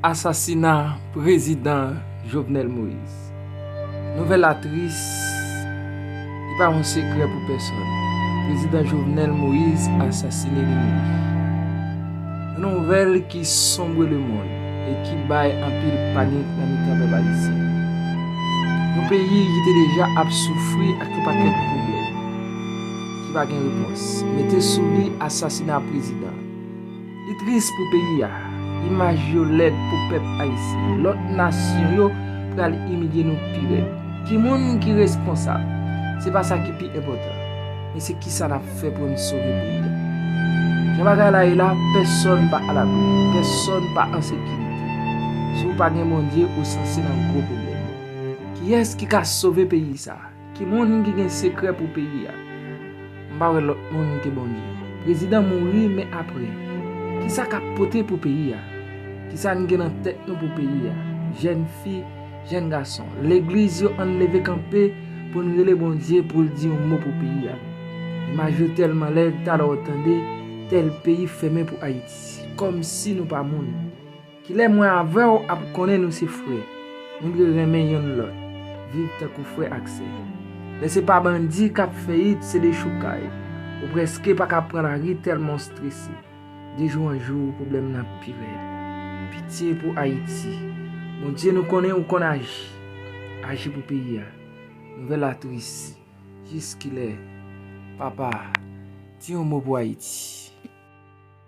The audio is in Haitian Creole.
Asasina prezidan Jovenel Moise. Nouvèl la tris, li pa yon sekrè pou pèsòn. Prezidan Jovenel Moise asasine li menm. Yon nouvèl ki sonbre le mond e ki bay anpil panik nan mitan pèp ayisyen. Yon peyi ki te deja ap soufri ak yon pakèt pwoblèm. ki pa gen repons, mete sou li asasina prezidan. Li tris pou peyi a, imaj yo lèd pou pèp ayisyen, lòt nasyon yo pral imilye nou pi rèd. Ki moun ki responsab? Se pa sa ki pi enpòtan, men se ki sa n ap fè pou n sove peyi a. Jan bagay la ye la, pèsòn pa alabri, pèsòn pa an sekirite. Si w pa gen Bondye, ou sanse nan gwo pwoblèm. Kiyès ki ka sove peyi sa? Ki moun ki gen sekrè pou peyi a? M pa wè lòt moun ke Bondye. Prezidan mouri men apre? Kisa kap pote pou peyi a? Kisa n gen nan tèt nou pou peyi a? Jèn fi, jèn gason, legliz yo ann leve kanpe pou n rele Bondye pou l di yon mo pou peyi a. Imaj yo tèlman lèd talè w tande tèl peyi fèmen pou Ayiti. Kòmsi nou pa moun. Kilè mwen avè w ap konnen nou se frè? Nou dwe renmen yonn lòt, viv tankou frè ak sè. Lè se pa bandi k ap fè it se dechoukay, ou prèske pa ka pran lari tèlman w strese. De jou an jou pwoblèm nan ap pi rèd. Pitye pou Ayiti. Bondye nou konnen ou konn aji. Aji pou peyi a. Nouvèl la tris. Jiskilè? Papa, di yon mo pou Ayiti.